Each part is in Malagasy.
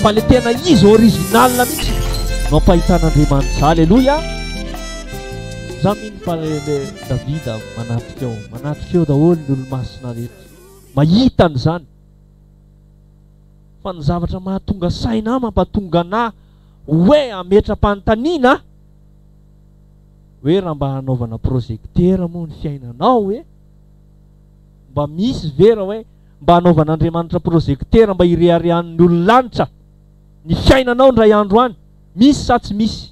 fa le tena izy original mihitsy no ampahitan'andriamanitra aleloia za mino fa le davida manatrika ao manatrika eo daholo ny olomasina rehetra mahita ny zany fa ny zavatra mahatonga saina mampatonga anah hoe ametra-panontaniana Hoe raha mba hanaovana projecteur moa ny fiainanao hoe mba misy ve raha hoe mba hanaovan'Andriamanitra projecteur mba hireharehan'ny olon-lanitra ny fiainanao indray andro any, misy sa tsy misy?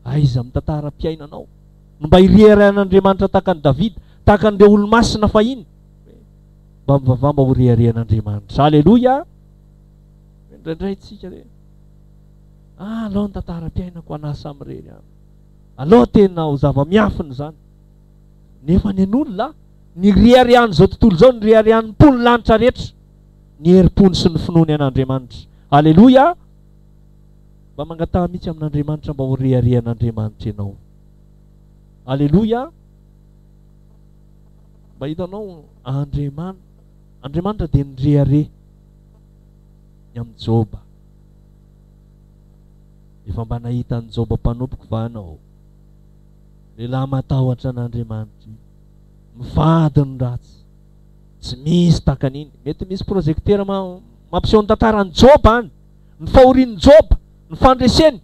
Aiza amin'ny tantaram-piainanao no mba hireharehan'Andriamanitra tahaka an'i Davida, tahaka an'ireo olo-masina fahiny? Mba mivavaha mba horeharehan'Andriamanitra. Aleloia! Indraindray tsika hoe. Ah alao ny tantaram-piainako an'asa amin'ireny an! Alao tena ho zava-miafina izany! Nefa nen'olona an! Ny riarian'izao tontolo izao, ny riarian'ny mpon'ny lanitra rehetra, ny herim-pony sy ny finoany an'Andriamanitra. Aleloia! Mba mangataha mihitsy amin'Andriamanitra mba ho riarian'Andriamanitra ianao. Aleloia! Mba hitanao, Andriaman, Andriamanitra dia nirehareha ny amin'i Joba. Efa mba nahita an'i Joba mpanompoko va anao? Lehilahy matahotra an'Andriamanitra io. Mivady ny ratsy. Tsy misy tahaka an'iny. Mety misy projecteur ma- mampiseho ny tantaran'i Joba any, ny fahorian'i Joba, ny fandreseny.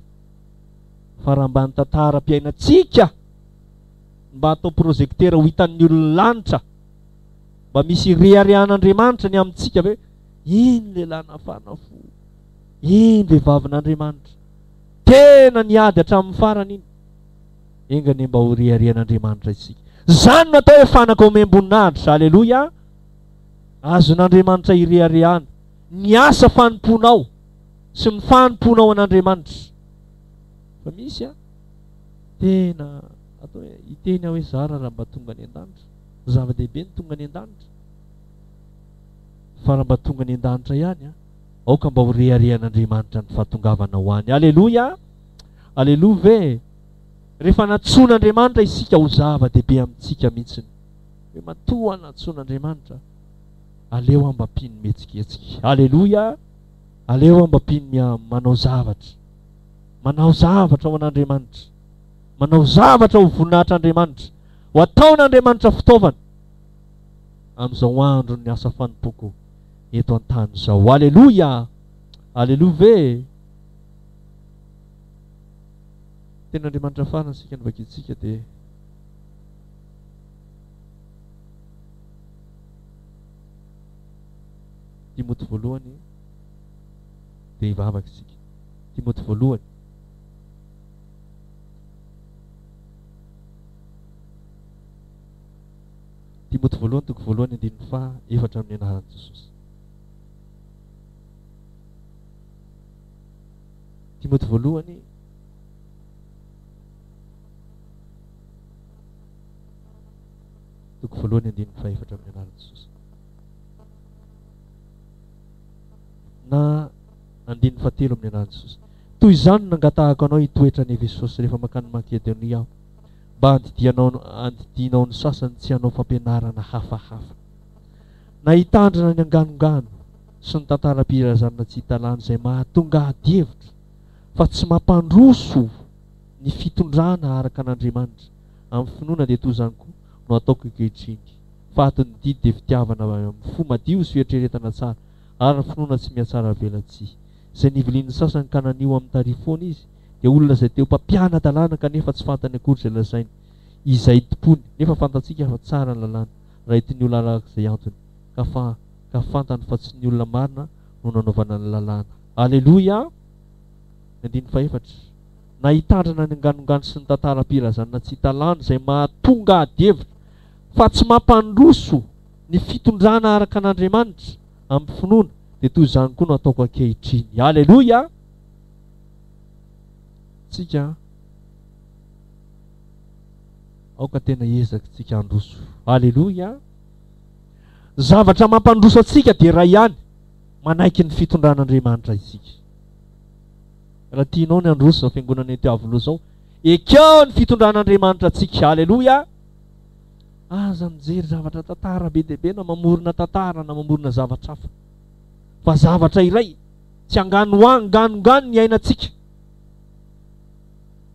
Fa raha mba ny tantaram-piainantsika no mba atao projecteur ho hitan'ny olon'ny lanitra, mba misy ireharehan'Andriamanitra ny amintsika ve? Iny lehilahy nafana fo. Iny vehivavin'Andriamanitra tena niady hatramin'ny farany iny. Enga anie mba horiarian'Andriamanitra isika. Izany no atao hoe fanaka omem-boninahitra. Aleloia! Azon'Andriamanitra ireharehana ny asa fanompoanao sy ny fanompoanao an'Andriamanitra. Fa misy an, tena atao hoe hiteny aho hoe zara raha mba tonga any an-danitra. Zava-dehibe ny tonga any an-danitra. Fa raha mba tonga any an-danitra ihany an, Aoka mba ho reharehan'Andriamanitra ny fahatongavana ho any. Aleloia! Aleloa ve? Rehefa nantsoin'Andriamanitra isika ho zava-dehibe amintsika mihitsiny. Hoe matoa nantsoin'Andriamanitra, aleo aho mba mpino mihetsiketsika. Aleloia! Aleo aho mba mpino miha manao zavatra. Manao zavatra ho an'Andriamanitra. Manao zavatra ho voninahitr'Andriamanitra. Ho ataon'Andriamanitra fitaovana. Amin'izao andron'ny asa fanompoako. eto an-tany izao. Aleloia! Aleloia ve e? Tenin'Andriamanitra farany isika no vakintsika dia Timoty voalohany dia hivavaka isika. Timoty voalohany. Timoty voalohany toko voalohany andininy faha efatra Amin'ny anaran'i Jesosy Timoty voalohany toko voalohany andininy faha efatra Amin'ny anaran'i Jesosy na andininy faha telo Amin'ny anaran'i Jesosy Toy izany no nangatahako anao hitoetra any Efesosy rehefa mankany Makedonia aho mba handidianao ny sasany tsy hanao fampianarana hafahafa. Na hitandrina ny anganongano sy ny tantaram-pirazanana tsy hita lany izay mahatonga adihevitra fa tsy mampandroso ny fitondrana araka an'Andriamanitra amin'ny finoana dia toa izany koa no ataoko ankehitriny fa ato ny didy dia fitiavana avy amin'ny fo madio sy fieritreretana tsara ary ny finoana tsy mihatsaravelatsihy izay nivilian'ny sasany ka nanio amin'ny tarifoana izy dia olona izay teo mpampiana-dalàna kanefa tsy fantany akory izay lazainy, izay itompoany, nefa fantatsika fa tsara ny lalàna, raha ity ny olona araka izay antony, ka fa ka fantany fa tsy ny olona marina no nanaovana ny lalàna. Aleloia! Ny andininy fahefatra, Na hitandrina ny anganongano sy ny tantaram-pirazanana tsy hita lany izay mahatonga ady hevitra fa tsy mampandroso ny fitondrana araka an' Andriamanitra amin'ny finoana, dia toy izany koa no ataoko ankehitriny. Aleloia! tsika an! aoka tena hiezaka tsika handroso, aleloia! ny zavatra mampandroso antsika dia iray ihany, manaiky ny fitondran'Andriamanitra isika. Raha tianao ny handroso izao fiangonana ety Iavoloha izao, ekeo ny fitondran'Andriamanitra antsika, aleloia! Aza mijery zavatra tantara be dia be na mamorona tantara na mamorona zavatra hafa, fa zavatra iray Tsy anganoanganongano ny iainantsika,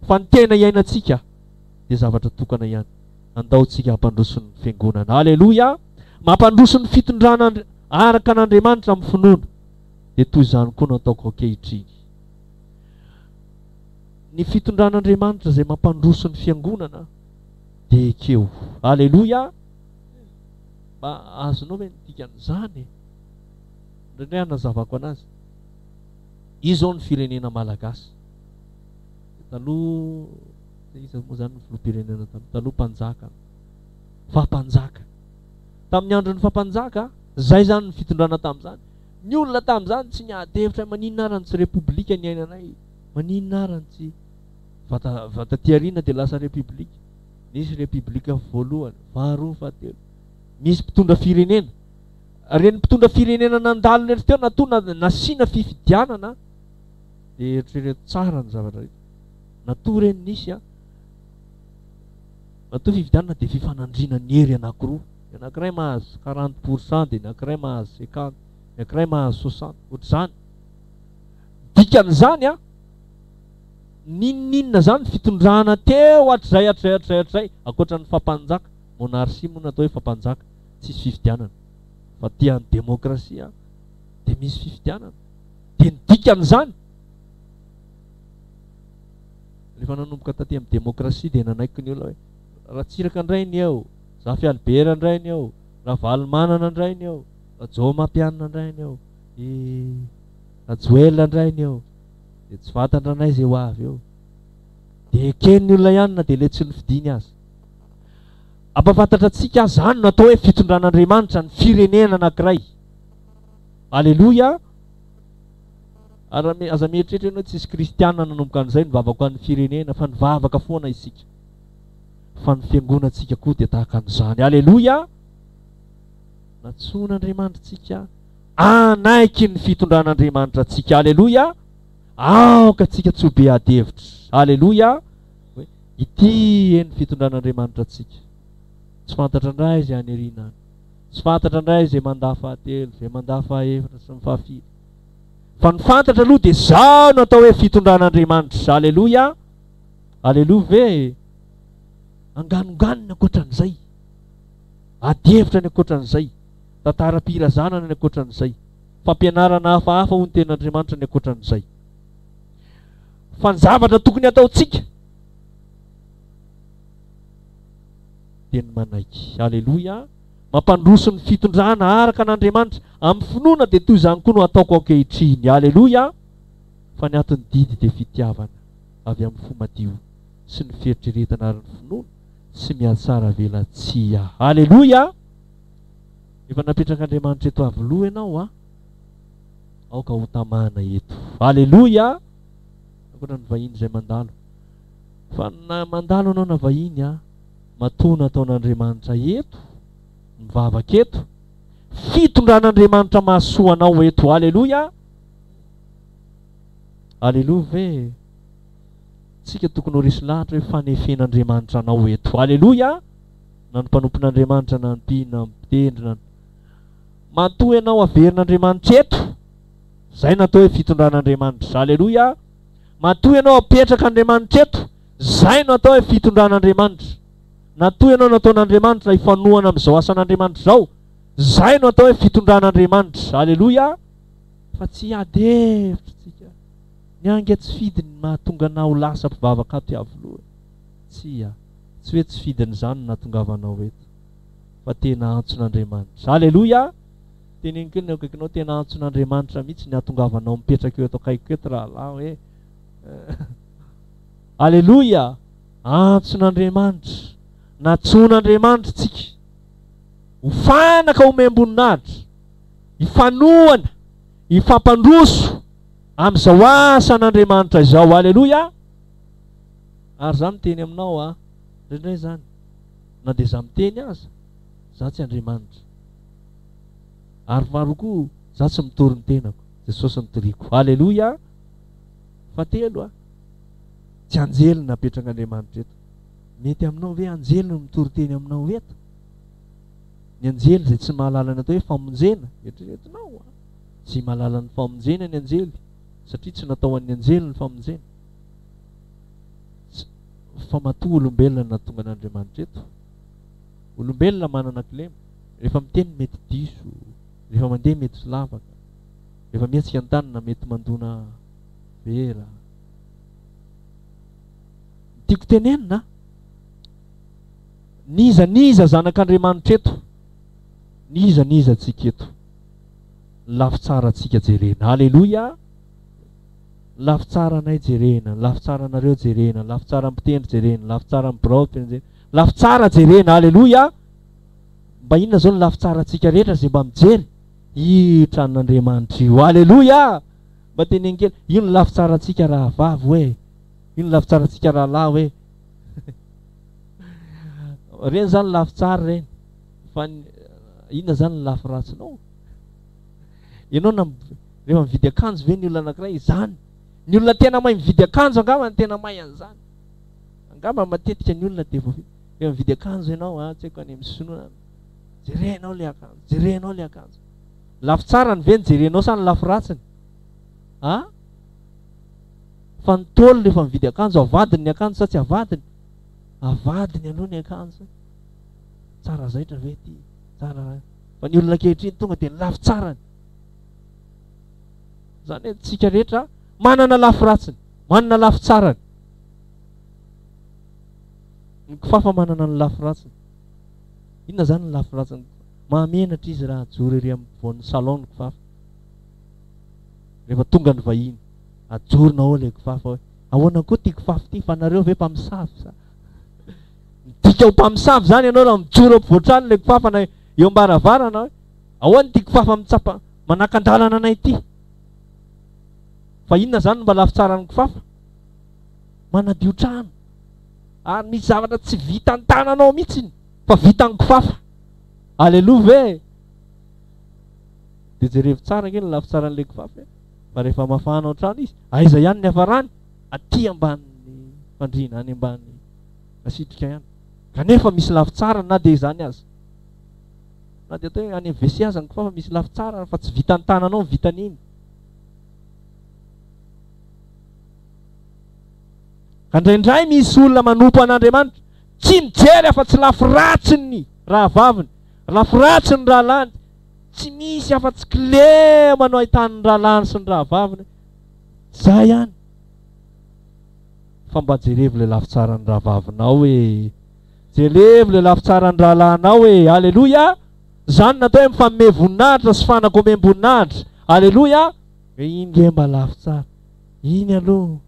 fa ny tena iainantsika dia zavatra tokana ihany. Andao tsika hampandroso ny Fiangonana. Aleloia! Mampandroso ny fitondrana araka an'Andriamanitra amin'ny finoana. Dia toy izany koa no ataoko ankehitriny. Ny fitondran'Andriamanitra izay mampandroso ny Fiangonana dia ekeo. Aleloia! Mba azonao ve ny dikan'izany? Indray indray anazavako anazy. Izao ny firenena malagasy. Taloha iza moa zany ny filoham-pirenena taloha? Taloha mpanjaka an. Faha-mpanjaka. Tamin'ny andron'ny faha-mpanjaka, zay zany ny fitondrana tamin'izany. Ny olona tamin'izany tsy niady hevitra maninona arany tsy repoblika niainanay? Maninona arany tsy vata vata aty aoriana dia lasa repoblika? Nisy repoblika voalohany, faharoa, fahatelo. Misy mpitondra firenena Reny mpitondra firenena nandalo rery teo na toa nasiana fifidianana dia eritrereto tsara ny zavatra rehetra. Na toa reny nisy an, na toa fifidianana dia fifanandriana ny hery anakiroa, ny anakiray mahazo quarante pour cent dia ny anakiray mahazo cinquante, ny anakiray mahazo soixante, ohatr'izany. Dikan'izany an, n'inon'inona izany fitondrana teo hatrizay hatrizay hatrizay hatrizay, ankoatra ny fapanjaka, monarchie moa no atao hoe fapanjaka, tsisy fifidianana fa te any demokrasia an de misy fifidianana de ny dikany zany rehefa nanomboka taty amin'ny demokrasia dia nanaiky ny olona hoe Ratsiraka indray ny eo, Zafy Albert indray ny eo, Ravalomanana indray ny eo, Rajaomampianina indray ny eo, i Rajoelina indray ny eo, dia tsy vatan-dranay izay ho avy eo. Dia eken'ny olona ihany na dia ilay tsy nofidiny aza. Hampafantatra antsika aza izany no atao hoe fitondran'Andriamanitra ny firenena anankiray. Aleloia! Ary aza mieritreritra ianao hoe tsisy kristiana nanomboka an'izay nivavaka ho an'ny firenena, fa nivavaka foana isika. Fa ny fiangonantsika koa dia tahaka an'izany. Aleloia! Nantsoin'Andriamanitra antsika hanaiky ny fitondran'Andriamanitra antsika. Aleloia! Aoka antsika tsy ho be adihevitra. Aleloia! hoe ity e ny fitondran'Andriamanitra antsika. Tsy fantatra indray izay any aoriana any. Tsy fantatra indray izay mandà fahatelo, izay mandà fahaefatra sy ny fahafiry. Fa ny fantatra aloha dia izao no atao hoe fitondran'Andriamanitra. Aleloia! Aleloia ve? Anganonganony ankoatran'izay. Adihevitra ny ankoatran'izay. Tantaram-pirazanana ny ankoatran'izay. Fampianarana hafahafa ho ny tenin'Andriamanitra ny ankoatran'izay. Fa ny zavatra tokony hataontsika dia ny manaiky. Aleloia! Mampandroso ny fitondrana araka an'Andriamanitra. Amin'ny finoana dia toy izany koa no hataoko ankehitriny. Aleloia! Fa ny aton'ny didy dia fitiavana avy amin'ny fo madio sy ny fieritreretana ary ny finoana tsy mihatsaravelatsihy. Aleloia! Efa napetrak'Andriamanitra eto Iavoloha ianao an! Aoka ho tamana eto. Aleloia! Ankoatra ny vahiny izay mandalo. Fa na mandalo ianao na vahiny an, matoa nataon'Andriamanitra eto, mivavaka eto, fitondran'Andriamanitra mahasoa anao eto. Aleloia! Aleloia ve? Tsika tokony ho resy lahatra hoe fanefen'Andriamanitra anao eto. Aleloia! Na ny mpanompon'Andriamanitra na ny mpino na ny mpitendry na ny Matoa ianao averin'Andriamanitra eto, izay no atao hoe fitondran'Andriamanitra. Aleloia! Matoa ianao apetraka Andriamanitra eto, izay no atao hoe fitondran'Andriamanitra. Natoa ianao nataon'Andriamanitra hifanohana amin'izao asan'Andriamanitra izao, izay no atao hoe fitondran'Andriamanitra. Aleloia! Fa tsy hiady hevitra isika. Ny ange tsy fidiny ny mahatonga anao ho lasa mpivavaka ato Iavoloha. Tsia, tsy hoe tsy fidiny izany no nahatongavanao eto. fa tena antson'Andriamanitra. Aleloia! Teneniko eo ny akaikinao, tena antson'Andriamanitra mihitsy ny hatongavanao mipetraka eo eto akaikiko eto rahalahy hoe Aleloia! Antson'Andriamanitra, nantsoin'Andriamanitra tsika ho fanaka omem-boninahitra, hifanohana, hifampandroso amin'izao asan'Andriamanitra izao. Aleloia! Ary za miteny aminao a, indraindray zany. na dia za miteny aza, za tsy Andriamanitra. Ary maro koa, za tsy mitory ny tenako, Jesosy no toriko. Aleloia! Fahatelo a, tsy anjely no napetrak'Andriamanitra eto. Mety aminao ve anjely no mitory teny aminao eto? Ny anjely izay tsy mahalala ny atao hoe famonjena, eritreretinao a, tsy mahalala ny famonjena ny anjely, satria tsy natao an'ny anjely ny famonjena. fa matoa olombelona no nahatonga an'Andriamanitra eto. Olombelona manana kilema, rehefa miteny mety diso, rehefa mandeha mety tsy lavaka, rehefa mihetsika an-tanana mety mandona vera. Tiako tenenina, niza niza zanak'Andriamanitra eto, niza niza antsika eto, ny lafy tsara antsika jerena. Aleloia! ny lafy tsaranay jerena, ny lafy tsaranareo jerena, ny lafy tsaran'ny mpitendry jerena, ny lafy tsaran'ny birao jerena, lafy tsara jerena, aleloia! Mba inona izao ny lafy tsarantsika rehetra izay mba mijery? Io tranon'Andriamanitra io, aleloia! Mba teneniny kely, io ny lafy tsarantsika rahavavy hoe, io ny lafy tsarantsika rahalahy hoe, ireny izany lafy tsara ireny, fa inona izany ny lafy ratsinao? Ianao na rehefa mividy akanjo ve ny olona anankiray izany? Ny olona tena mahay mividy akanjo angamba ny tena mahay an'izany. Angamba matetika ny olona dia voavidy. Rehefa mividy akanjo ianao, ah, tsy haiko any amin'ny sinoa any. Jerenao ilay akanjo, jerenao ilay akanjo. Lafy tsarany ve ny jerenao sa ny lafy ratsiny? Ah? Fa ny tôlo rehefa mividy akanjo, avadiny ny akanjo sa tsy avadiny? Avadiny aloha ny akanjo. Tsara zaitra ve ity? Tsara Fa ny olona ankehitriny tonga dia ny lafy tsarany. Izany hoe tsika rehetra manana lafy ratsiny, manana lafy tsarany. Ny kifafa manana ny lafy ratsiny. Inona izany ny lafy ratsiny? Mahamenatra izy raha ajoro ery amin'ny voan'ny salon ny kifafa. Rehefa tonga ny vahiny, ajorona ao ilay kifafa hoe ahoana koa ity kifafa ity fa nareo ve mpamosavy sa? Midika ho mpamosavy izany ianao raha mijoro eo ampovoan-trano ilay kifafa na eo am-baravarana hoe ahoana ity kifafa mitsapa manakan-dalana anay ity. Fa inona izany no mba lafy tsaran'ny kifafa? Manadio trano. Ary misy zavatra tsy vitan'ny tananao mihitsiny fa vitan'ny kifafa. Aleloa ve? Dia jerevo tsara kely ny lafy tsaran'ilay kifafa. Eh? Fa rehefa mafana ao trano izy, aiza ihany ny hafarany? Aty ambanin'ny fandriana, any ambanin'ny asitrika ihany kanefa misy lafy tsarany na dia izany aza na dia atao hoe any WC aza ny kifafa misy lafy tsarany fa tsy vitan'ny tananao ny vitan'iny ka ndraindray misy olona manompo an'Andriamanitra tsy mijery afa tsy lafy ratsiny ny rahavaviny lafy ratsiny rahalany tsy misy afa-tsy kilema no ahitan'ny rahalany sy ny rahavaviny izay ihany fa mba jerevo le lafy tsaran'ny rahavavinao e! Jerevo le lafy tsaran'ny rahalahinao e! Aleloia! Zany natao hoe mifanome voninahitra sy fanaka omem-boninahitra. Aleloia! Hoe iny nge mba lafy tsara, iny aloha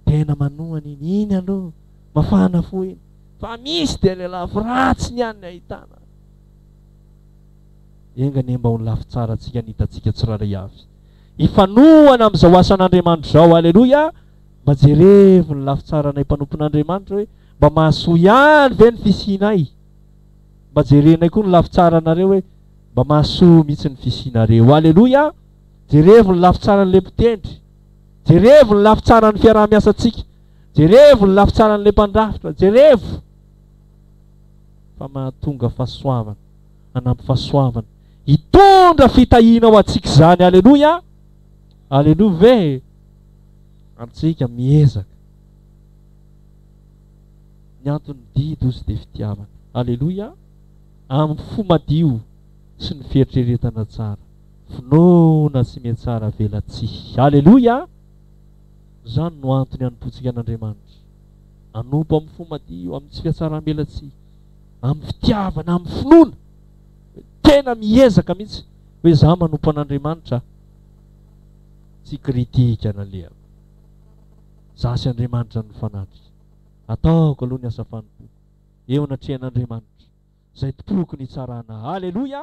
tena manohana iny, iny aloha mafana fo iny, fa misy dia le lafy ratsiny ihany ny ahitana. Enga anie mba ho ny lafy tsara antsika ny hitantsika tsirairay avy. hifanohana amin'izao asan'Andriamanitra izao. Aleloia! Mba jerevo ny lafy tsaranay mpanompon'Andriamanitra hoe mba mahasoa ihany ve ny fisianay? Mba jerenay koa ny lafy tsaranareo hoe mba mahasoa mihitsy ny fisianareo. Aleloia! Jerevo ny lafy tsaran'ilay mpitendry. Jerevo ny lafy tsaran'ny fiaraha-miasantsika. Jerevo ny lafy tsaran'ilay mpandrafitra. Jerevo! Fa mahatonga fahasoavana, hanampy fahasoavana Hitondra fitahiana ho antsika izany. Aleloia! Aleloia ve? Antsika miezaka. Ny antony didy ozy dia fitiavana. Aleloia! Amin'ny fo madio sy ny fieritreretana tsara. Finoana sy mihatsara velatsihy. Aleloia! Izany no antony hanompoantsika an'Andriamanitra. Hanompo amin'ny fo madio, amin'ny tsy fihatsaram-belatsihy, amin'ny fitiavana, amin'ny finoana. tena miezaka mihitsy hoe za manompo an'Andriamanitra a! Tsy critique an'Aleha. Za sy Andriamanitra no mifanatrika. Ataoko aloha ny asa fanompoako eo anatrehan'Andriamanitra, izay tompoko ny hitsarana. Aleloia!